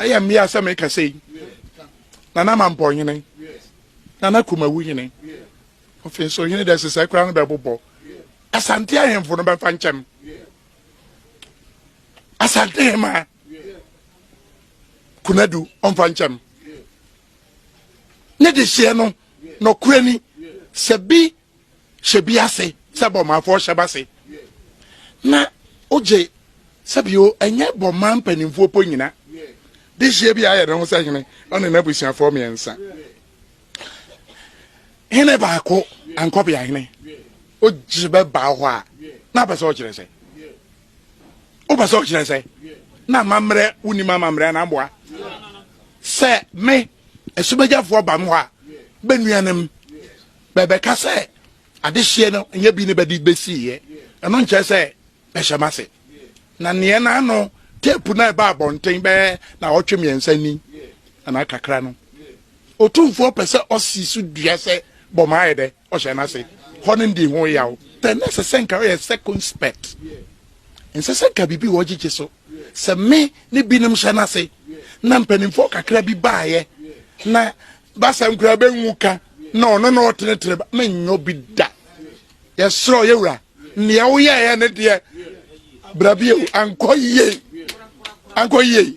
ɛyɛ mmea sɛ meka sɛ yi nana mampɔ hene nana kumawu hene ɔfei so hene dɛ sesɛ koraa no bɛbobɔ asante ahemfo no bɛfa nkyɛm asante hema kunadu ɔmfa nkyɛm ne de hyeɛ no nɔkorɛ ni sɛ bi hyɛ bi ase sɛ bɔmaafoɔ hyɛ ba se na ogye sɛbio ɛnyɛ bɔmaa mpanimfoɔ po nyina de hyɛ bi ayɛ ne ho sɛ hene ɔne n'abusuafoɔ mmiɛnsa hene baako ankɔbea hene ogye bɛba hɔ a na apɛ sɛ ɔkyerɛ sɛ wopɛ sɛ ɔkyerɛ sɛ na amammerɛ wonim amammerɛ na mboa sɛ me asubagyafoɔ ba me hɔ a bɛnuanom Bɛbɛka sɛ, Adehyeɛ no nyɛ bi ne bɛde bɛsiiɛ. Ɛno nkyerɛ sɛ bɛhyɛ m'ase. Na neɛ na ano tape no a ɛbaa abɔnten bɛyɛ naawɔtwe mmiɛnsa ni anaa kakra no, Otumfoɔ pɛ sɛ ɔsi so dua sɛ bɔmmɔ ayɛ dɛ, ɔhyɛ n'ase. Hɔ no ndi ho yaw. Then na ɛsɛ sɛ nka ɔyɛ circumspect. Ɛnsɛ sɛ nka biribi wɔ gyegye so. Sɛ me ne binom hyɛ n'ase na mpanimfoɔ kakra bi baeɛ na basa nkura bɛnwu ka na ɔno na ɔtenetene ba menyɔ bi da yɛserɛ ɔyɛ wura nea woyɛɛ ne deɛ brabie ankɔ yie ankɔ yie